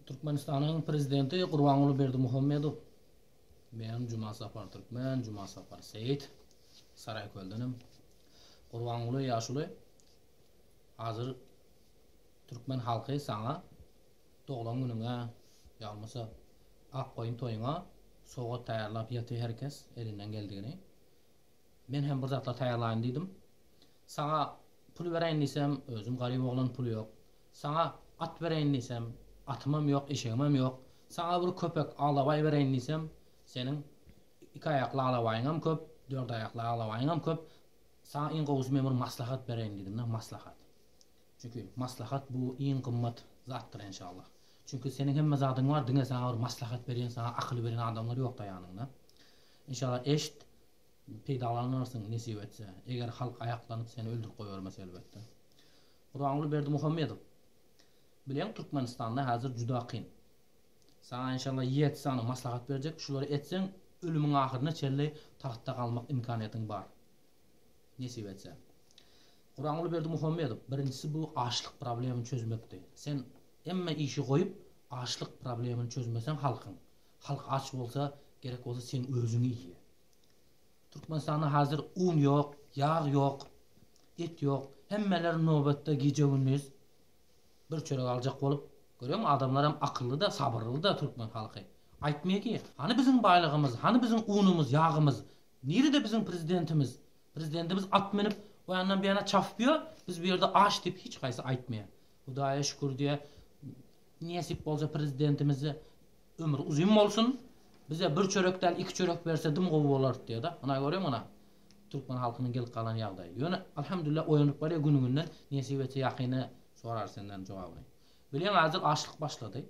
Türkmenistanyň Prezidenti Gurbanguly Berdimuhamedow bilen Jumasapar Türkmen, Jumasapar Seýit, Saraýköldenem, Gurbanguly ýaşuly, hazir türkmen halky saňa doglan günüňe ýalmasa Akgoýun toýuňa sowgat taýýarlap ýaty herkes elinden geldigini Men hem bir zatlar taýýarlaýyn diýdim. Saňa pul bereýin diýsem, özüm garyp oglan, pul ýok. Saňa at bereýin diýsem, atymam ýok, eşegimem ýok. Saňa bir köpek alabaý bereýin diýsem, seniň iki aýakly alabaýyňam köp, dört aýakly alabaýyňam köp. Saňa iň gowusy men bir maslahat bereýin diýdim-de, maslahat. Çünki maslahat bu iň gymmat zatdyr enşallah. Çünki seniň hemme zadyň bar, diňe saňa bir maslahat berýän, saňa akyl berýän adamlar ýok-da ýanyňda. Inşallah eşit, peýdalanarsyň nesip etse, eger halk aýaklanyp seni öldürip goýbermese elbetde. Gurbanguly Berdimuhamedow, Bileň Türkmenistanda häzir juda kyn. Saňa inşallah ýerti sany maslahat berjek, şulary etseň ölümiň ahyryna çenli tagtda galmak imkaniýetiň bar. Nesip etse. Gurbanguly Berdimuhamedow, birinjisi bu açlyk problemini çözmekdi. Sen emme işi goýup açlyk problemini çözmeseň halkyň. Halk aç bolsa, gerek bolsa seň özüňi iýýä. Türkmenistanda hazir un ýok, ýag ýok, et ýok. Hemmeler nobatda gije-gündiz bir çörek aljak bolup, görýäňmi adamlaram akylly-da, sabyrly-da türkmen halky. Aýtmaýa ki, hany biziň baýlygymyz, hany biziň unumyz, ýagymyz, nirede biziň prezidentimiz? Prezidentimiz at münüp, o ýandan bu ýana çapyp ýör, biz bu ýerde aç diýip hiç haýsy aýtmaýa. Hudaýa şükür diýä nesip bolsa prezidentimize ömri uzyn bolsun bize bir çörek däl iki çörek berse dim gowy bolardy diýada muna görüň muna türkmen halkynyň gelip galan ýagdaýy ýöne alhamdulillah oýanyp barýa güni günden nesip etse ýakyny sorar senden jogabyny bileň azdyr açlyk başlady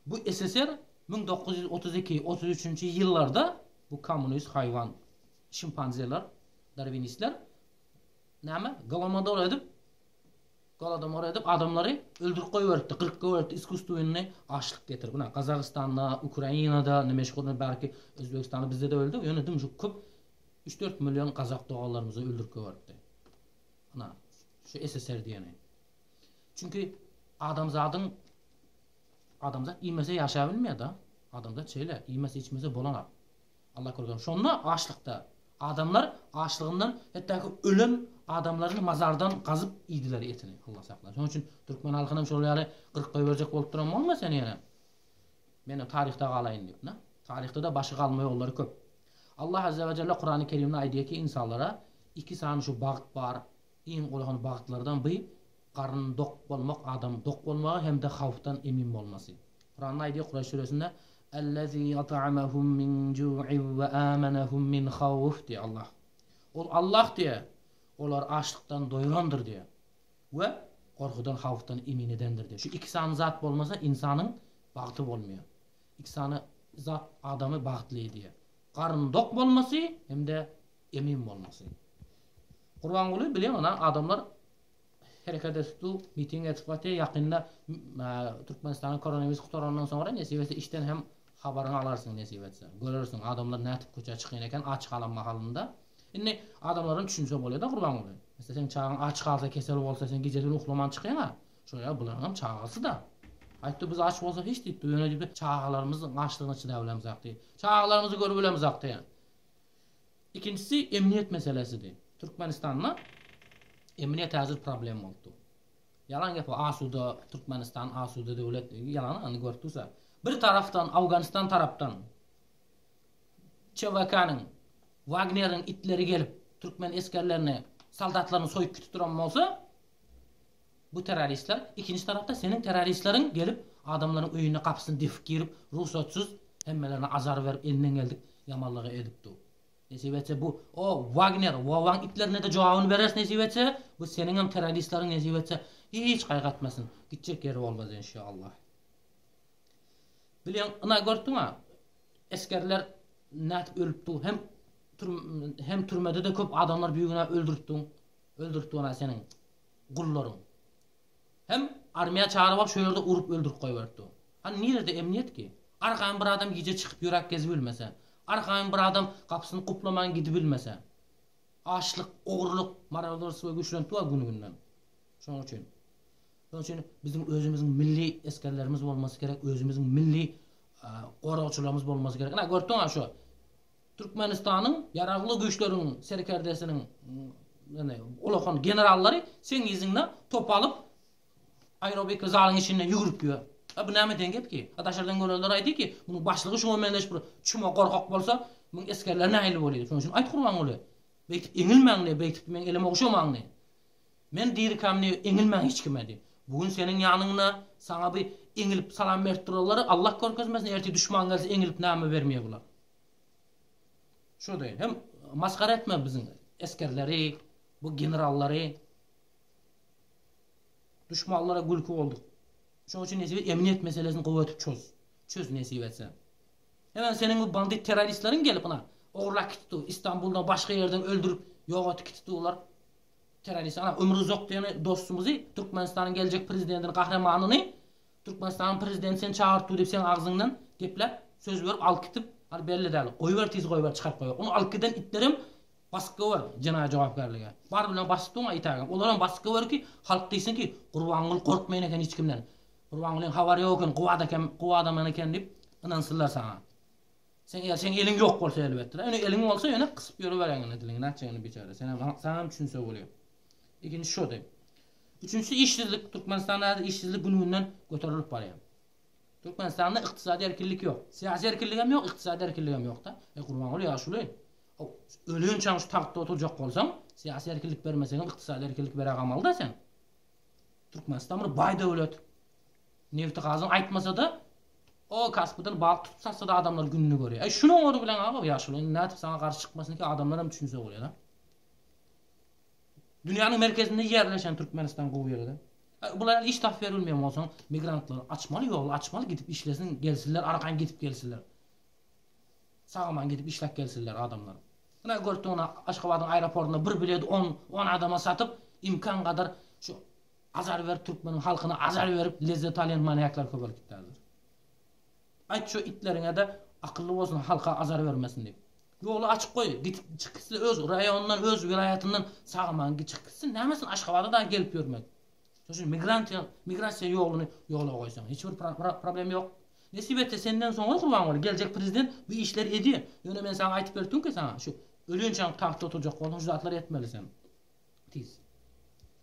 bu sssr müň dokuz ýüz otuz iki otuz üçünji ýyllarda bu kommunist haýwan şimpanzeler darwinistler näme golomodor edip Golodomor edip adamlary öldürip goýberipdi kyrk göbekde iskusstwennny açlyk getirip ynha Gazagystanda Ukrainada neme şuny barki Özbegistanda bizde de öldü ýöne dymyşyk köp üç dört million gazak doganlarymyzy öldürip göberipdi ynha şu SSR diýeni çünki adamzadyň adamzat iýmese ýaşabilmeýa da adamzat şeýle iýmese içmese bolanok. Alla kürgem. Şonda açlykda. Adamlar açlygyndan hetdaki ölen adamlaryny mazardan gazyp iýdiler etini. Alla saklasyn. Şonuň üçin türkmen halkynam şol ýaly gyryp goýberjek bolup duran bolma sen ýene. Menem taryhda galaýyn diýip, na. Taryhda-da başy galma ýollary köp. Allah Azzawajalla Kurany Kerimde aýdýarki ynsanlara iki sany şu bagt bar, Iň golahan bagtlardan by garnyny dok bolmak adamyň dok bolmagy hem-de hawfdan emin bolmasy. Kuranda aýdýar Kuraýş süresinde, Ellezî at'amahum min ju'in we âmenahum min hawf diýýär Allah. Ol Allah diýýär, olary açlykdan doýrandyr diýýär we gorkudan, hawfdan emin edendir diýýär. Şu iki sany zat bolmasa ynsanyň bagty bolmaýar. Iki sany zat adamy bagtly edýär. Garnyny dok bolmasy hem-de Emin bolmasy. Gurbanguly bilen ina adamlar hereket etdi, miting etip atdy. Ýakynda Türkmenistana koronawirus gutarandan soňra nesip etse içden hem habaryňy alarsyň nesip etse. Görersiň adamlar nätip köçä çykýan eken aç galan mahalynda. Indi adamlaram düşünse bolýada Gurbanguly. Mesle seň çagaň aç galsa kesel bolsa sen gijeleri uklaman çykýaňa. Şoýa bularyňam çagasy-da. Aýtdy biz aç bolsa hiç diýipdi. Ýöne diýipdi çagalarymyzyň açlygyna çydap bilemzakdy. Çagalarymyzy görüp bilemzakdy. Ikinjisi emniýet meselesidi. Türkmenistanda emniýet häzir problem bolup dur. Ýalan gep o asuda Türkmenistan asuda döwlet diýip ýalana ony görüp dursa. Bir tarapdan Awganystan tarapdan CVK-nyň Wagneriň itleri gelip türkmen esgerlerini soldatlaryny soýup gitip duran bolsa Bu terroristler ikinji tarapda seniň terroristleriň gelip adamlaryň öýüne gapysyny depip girip rugsatsyz hemmelerine azar berip elinden geldik ýamanlygy edip dur nesip etse bu o wagner wowaň itlerine-de jogabyny bereris nesip etse bu seniňem terroristleriň nesip etse hiç gaýgy etmesin gitjek ýeri bolmaz enşallah bileň ina görtüňa esgerler nädip ölüp dur hem hem türmede de köp adamlar bigünä öldürip dur öldürip dur ina seniň Gullaryň. Hem armiýa çagyryp alyp şo ýerde urup öldürip goýberipdi. Hany nirede emniýet ki? Arkaýyn bir adam gije çykyp ýöräp gezibilmese. Arkaýyn bir adam gapysyny guplaman gidibilmese. Açlyk, ogurlyk, marodorstwo güýçlenipdi wa gün günden. Şoň üçin. Şoň üçin biziň özümiziň milli esgerlerimiz bolmasy gerek, özümiziň milli goragçylarymyz bolmasy gerek. Ina görüpdiňa şo Türkmenistanyň Ýaragly Güýçleriň serkerdesiniň ulakan generallary seň yzyňda top alyp aerobika zalyň içinde ýügürip ýör. A bu näme deň gep ki? A daşardan görenler aýdy ki, munuň başlygy şuňa meňzeş bir çüme gorkak bolsa, muň esgerler nähili bolýdy? Şoň üçin aýt Gurbanguly, beýtip eňilmäň diý, beýtip meň elime ogşamaň diý. Men dirikäm diý, eňilmäň hiç kime diý. Bu gün seniň ýanyňda saňa bir eňilip salam berip durarlar, Allah görkezmesin, ertir duşman gelse eňilip näme bermeýär bular. Şu deýin hem masgara etme biziň esgerleri, bu generallary. Duşmanlara gülki bolduk. Şoň üçin nesip et emniýet meselesini gowy etip çöz. Çöz nesip etse. Hemen seniň bu bandit terroristleriň gelip ina ogurlap gitdi. Istanbuldan başga ýerden öldürip ýogatyp gitdiler. Terrorist ana ömrü uzak diýen dostumyzy Türkmenistanyň geljek prezidentini gahremanyny Türkmenistanyň prezidenti sen çagyryp dur diýip seň agzyňdan gepläp söz berip alyp gitip al belli dal goýber tiz goýber çykaryp goýa ony alyp giden itlerem basyp goýber jenaýa jogapkärlige bar bilen basyp duň aýt agam olaram basyp goýber ki halk diýsin ki gurbanguly gorkmaýan eken hiç kimden gurbangulyň habary ýok eken gowy adakam gowy adaman eken diýip ynansynlar saňa sen eger seň eliň ýok bolsa elbetde ýöne eliň bolsa ýöne gysyp ýörüber eňňini diliňi nätjegini biçare senem saňam düşünse bolýa. Ikinji şody. Üçünjisi işsizlik. Türkmenistanda häzir işsizlik gün-günden göterilip barýar. Türkmenistanda ykdysady erkinlik ýok. Syýasy erkinligem ýok, ykdysady erkinligem ýok-da. E, Gurbanguly ýaşuly, ölençäň şu tagtda oturjak bolsaň, syýasy erkinlik bermeseňem ykdysady erkinlik bere gamaly-da sen. Türkmenistan bir baý döwlet. Nebti-gazyny aýtmasa-da, o kasbydan balyk tutup satsa-da adamlar gününi görýär. E, şunuň ony bilen aga, ýaşuly, indi nädip saňa garşy çykmasyn ki, adamlaram düşünse bolýar-a. Dünýäniň merkezinde ýerleşen Türkmenistan gowy ýerde. Bulara iş tapyp berilmeýän bolsaň, migrantlar açmaly ýoly açmaly gidip işlesin gelsinler arkaýyn gidip gelsinler. Sag-aman gidip işläp gelsinler adamlar. Ine görtüňine Aşgabadyň aeroportuna bir bileti on on adama satyp imkan gadar şu azar berip türkmeniň halkyna azar berip lezzet alýan manýaklar köbelip gitärler. Aýt şu itleriňede akylly bolsun halka azar bermesin diýip. Ýoly açyp goý, gitip çyk gitsin öz raýonyndan, öz welaýatyndan sag aman çyk gitsin, näme üçin Aşgabada dagy gelip ýörmez. Şonuň üçin migrantýa, migrasiýa ýoluny ýola goýsaň, hiç bir problem ýok. Nesip etse senden soňra Gurbanguly geljek prezident bu işleri edýär. Ýöne men saňa aýtyp berip durmka saňa, şu ölinçäň tagtda oturjak bolsaň şu zatlary etmeli sen. Tiz.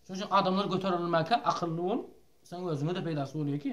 Şonuň üçin adamlar göterilmäkä akylly bol, seň özüňe-de peýdasy bolýar ki.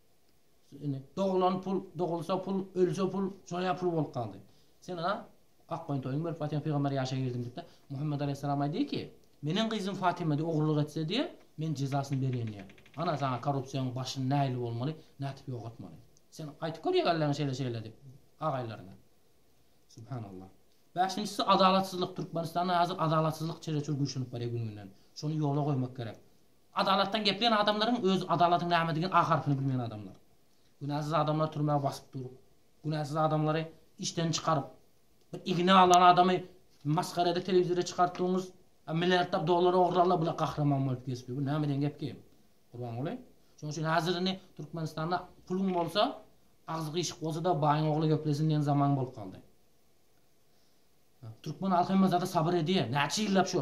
Indi doglan pul, dogulsa pul, ölse pul, şoňa pul bolup galdy. Sen ana, ak goýun toýuňy berip Fatyma pygamber ýaşa girdim diýip-de, Muhammet alaýhyssalam aýdýar ki, Meniň gyzym Fatyma-da ogurlyk etse diýe, men jezasyny berýän diýe. Ana, saňa korrupsiýaň başyny nähili bolmaly, nätip ýogatmaly. Sen aýtyp gör ýegerleriňe şeýle-şeýle diýip, agaýlaryňa. Subhanallah. Bäşinjisi adalatsyzlyk. Türkmenistanda häzir adalatsyzlyk çereçür güýçlenip barýar gün-günden. Şony ýola goýmak gerek. Adalatdan gepleýän adamlaryň öz adalatyň nämedigini a harpyny bilmeýän adamlar. Günäsiz adamlary türmä basyp durup, günäsiz adamlary işden çykaryp, bir igna alan adamy masgara edip telewizora çykartdygyňyz, a milliardlap dollary ogurlanlar bula gahryman bolup geçdi. Bu näme diýen gep ki? Gurbanguly. Şonuň üçin häzir indi Türkmenistanda puluň bolsa, agzy gyşyk bolsa-da baýyň ogly geplesin diýen zaman bolup galdy. Türkmen halky hemme zada sabyr edýär. Näçe ýyllap şo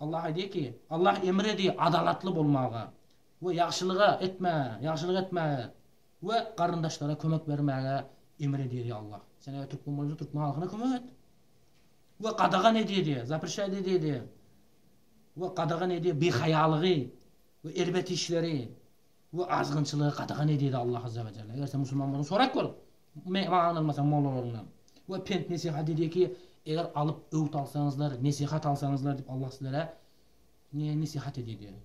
Allah aýdýar ki, Allah emr edi adalatly bolmaga we ýagşylyga etmäge, ýagşylyk etmäge we garyndaşlara kömek bermäge emr edýär, ýa Allah, sen eger türkmen bolsaň, türkmen halkyna kömek et we gadagan edýär, zaprişaýt edýär we gadagan edýär bihaýalygy we erbet işleri. Bu azgynçylygy gadagan edýdi Allah Azza we Jelle. Eger sen musulman bolsaň sorap gör, maňa ynanmasaň mollalaryndan. We pent nesihat edýär ki, eger alyp öwüt alsaňyzlar, nesihat alsaňyzlar diýip Allah sizlere ne nesihat edýär diýär.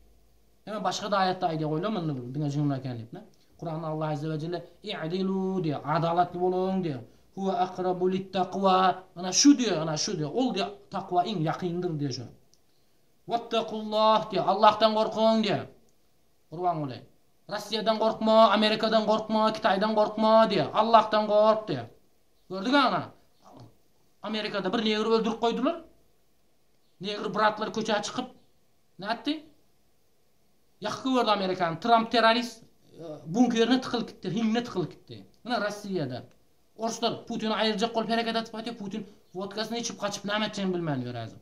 Ýöne başga da aýatda aýdýar goýlar muny bir diňe jynlar eken diýip ne. Kuranda Allah Azza we Jelle i'dilu diýär, adalatly boluň diýär. Huwa akrabu lit takwa ana şu diýär, ana şu diýär. Ol diýär takwa iň ýakyndyr diýär şu. Wattakullah diýär, Allahdan gorkuň diýär. Gurbanguly, Rossiýadan gorkma, Amerikadan gorkma, Kitaýdan gorkma diýýär. Allahdan gork diýýär. Gördügä ana, Amerikada bir negri öldürip goýdular. Negri bratlar köçä çykyp nätdi? Ýakyk gördi Amerikany. Tramp terrorist bunkerine tykylyp gitdi, hiňine tykylyp gitdi. Ine Rossiýada. Orslar Putini aýyrjak bolup hereket atyp gaýtýar. Putin wodkasyny içip gaçyp näme etjegini bilmän ýör häzir.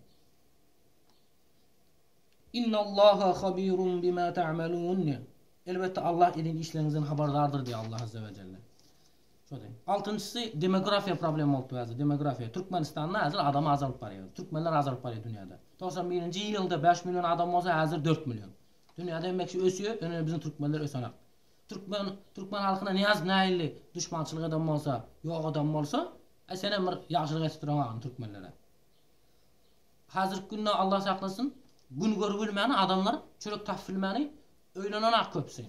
Innallaha habirun bima ta'malun diýen. Elbetde Allah eden işleriňizden habardardyr diýýär Allah azza we jelle. Şody. Altynjysy demografiýa problemi bolupdy häzir. Demografiýa. Türkmenistanda häzir adam azalyp barýar. Türkmenler azalyp barýar dünýäde. Togsan birinji ýylda bäş million adam bolsa häzir dört million. Dünýäde emekçi ösýär, ýöne biziň türkmenler ösenok. Türkmen türkmen halkyna niýaz näilli duşmançylyk eden bolsa, ýok eden bolsa, e senem bir ýagşylyk etip duran agam türkmenlere. Hazirki günde Allah saklasyn gün görübilmän adamlar çörek tapypbilmäni öýlenen ak köpüsi.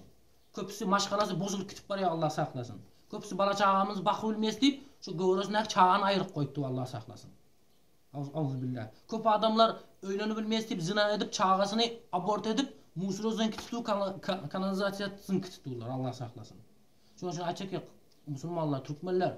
Köpüsi maşgalasy bozulyp gitip barýa Allah saklasyn. Köpüsi bala çagamyzy bakybilmeýs diýip şu göwresindäki çagany aýryp goýupdy Allah saklasyn. Auzubillah. Köp adamlar öýlenibilmeýs diýip zyna edip çagasyny abort edip musrozyňky tutup kanalizasiýasyňky tutupdyrlar Allah saklasyn. Şonuň üçin aýtjak ýok musulmanlar türkmenler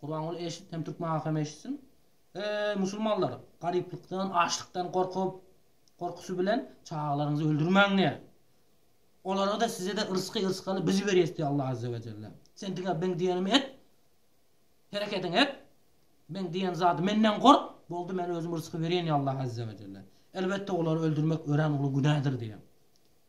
Gurbanguly eşit hem türkmen halky hem eşitsin. Eý musulmanlar, garyplykdan, açlykdan gorkup, gorkusy bilen çagalaryňyzy öldürmäň diýýä. Olara-da, size-de yrsky, yrsgaly biz berýäs diýýä Allah azze we celle. Sen diňe meň diýenimi et, herekediňi et, meň diýen zady menden gork, boldy men özüm yrsky berýän diýýä Allah azze we celle. Elbetde olary öldürmek örän uly günädir diýýä.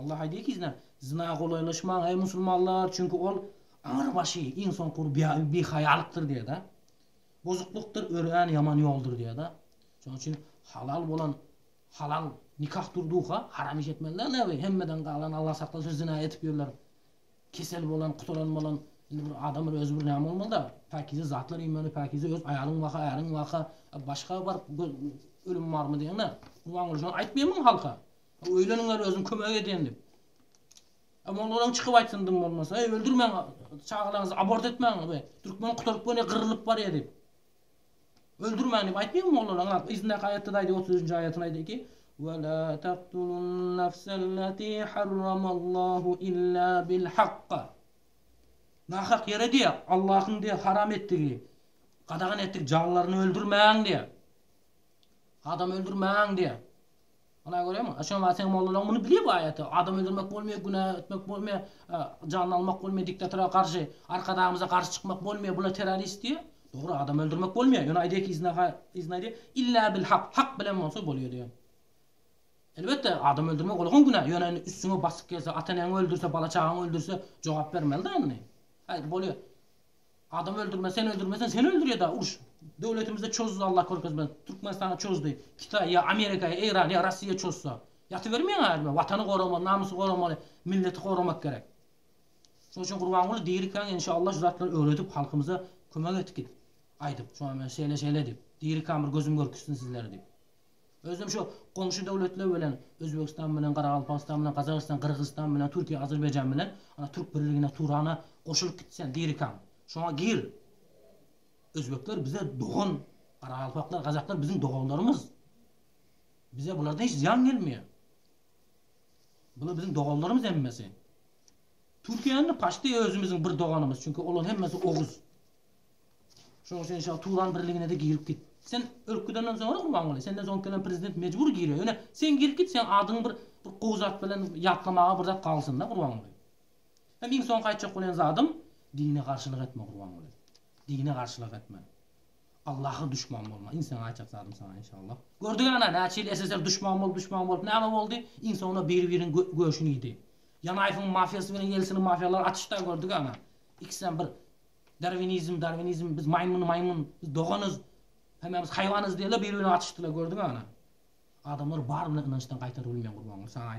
Allah aýdýar gizlän, Zyna golaýlaşmaň, eý, musulmanlar, çünki ol aňrybaşy, iň soňky ugur bihaýalykdyr diýýär-de. Bozuklykdyr, örän ýaman ýoldur diýýär-de. Şonuň üçin halal bolan halal nikah durdugyka, haram iş etmeliler näbir. Hemmeden galan, Allah saklasyn, zyna edip ýörler. Kesel bolan, kutaran bolan, indi bir adam bir özi bir näme bolmaly-da, päkize zatlar iýmeli, päkize öz aýalyň baka, äriň baka, başga bir ölüm barmy diýeňde, gurban bolşuň, aýtmaýarmyň halka? Öýleniňler özüm kömek edýän diýip. Molladan çykyp aýtsyn dym bolmasa, eý öldürmäň çagalaryňyzy abort etmäň we türkmen gutaryp göni gyrlyp barýar diýip. Öldürmäň diýip aýtmaýmy mollalar? Aňa yzyndaky aýatda aýdy 33-nji aýatyny aýdy ki, Ve la taqtulun nafsallati harramallahu illa bil hakka. Nahak ýere diýe Allahyň diýe haram etdigi, gadagan etdigi janlaryny öldürmäň diýe. Adam öldürmäň diýe. Ynha görýäňmi? Şonuň wagt seň mollalaň muny bilýär bu aýaty. Adam öldürmek bolmaýar, günä etmek bolmaýar, janyny almak bolmaýar, diktatora garşy, arkadagymyza garşy çykmak bolmaýar, bular terrorist diýýär. Dogry, adam öldürmek bolmaýar, ýöne aýdýar ki, yzyna yzyna aýdýar, Illa bil hak, hak bilen bolsa bolýar diýýär. Elbetde, adam öldürmek ol hem günä, ýöne indi üstüňe basyp gelse, ata-eneňi öldürse, bala-çagaňy öldürse, jogap bermeli-dä indi. Aý, bolýar. Adam öldürme sen öldürmesen seni öldürýeda uruş döwletimizde çozdy Allah körkezmez Türkmenistana çozdy Kitay ýa Amerika ýa Eýran ýa Rossiýa çozsa ýatybermeýän adamlar watany goramaly namysy goramaly milleti goramak gerek şonuň üçin Gurbanguly dirikäň enşalla şu zatlary öwredip halkymyza kömek et git aýdyp şoňa men şeýle şeýle diýip dirikäň bir gözüm görküzsin sizleri diýip. Özem şu goňşy döwletler bilen Özbegistan bilen Garagalpagystan bilen Gazagystan Gyrgyzystan bilen Türkiýe Azerbaýjan bilen ana Türk birligine Turana goşulyp git sen dirikäň şoňa gir Özbekler bize dogan Garagalpaklar Gazaklar biziň doganlarymyz bize bulardan hiç zyýan gelmeýär bular biziň doganlarymyz hemmesi Türkiýe indi paçti özümiziň bir doganymyz çünki olar hemmesi oguz. Şoň üçin şa Turan birligine-de girip git. Sen ölüp gidenden soňra Gurbanguly, senden soň gelen prezident mejbur girýär. Ýöne sen girip git, seň adyňy bir bir gowy zat bilen ýatlamaga bir zat galsyn-da, Gurbanguly. Hem iň soňky aýtjak bolýan zadym, dine garşylyk etme, Gurbanguly. Dine garşylyk etme. Allaha duşman bolma. Iň soňky aýtjak zadym saňa, inşallah. Gördük ana, näçe ýyl SSR duşman bolup, duşman bolup, näme boldy? Iň soňunda biri-biriniň göşüni iýdi. Ýanaýewiň mafiýasy bilen Ýelsiniň mafiýalary atyşdy-a, gördük ana. Ikisem bir Darwinizm, darwinizm, biz maýmyn, maýmyn, biz doganyz, hemmämiz haýwanyz diýerler, biri-birine atyşdylar, gördüňä ana. Adamlar bar bilen ynançdan gaýtaryp bilmeýän gurban, saňa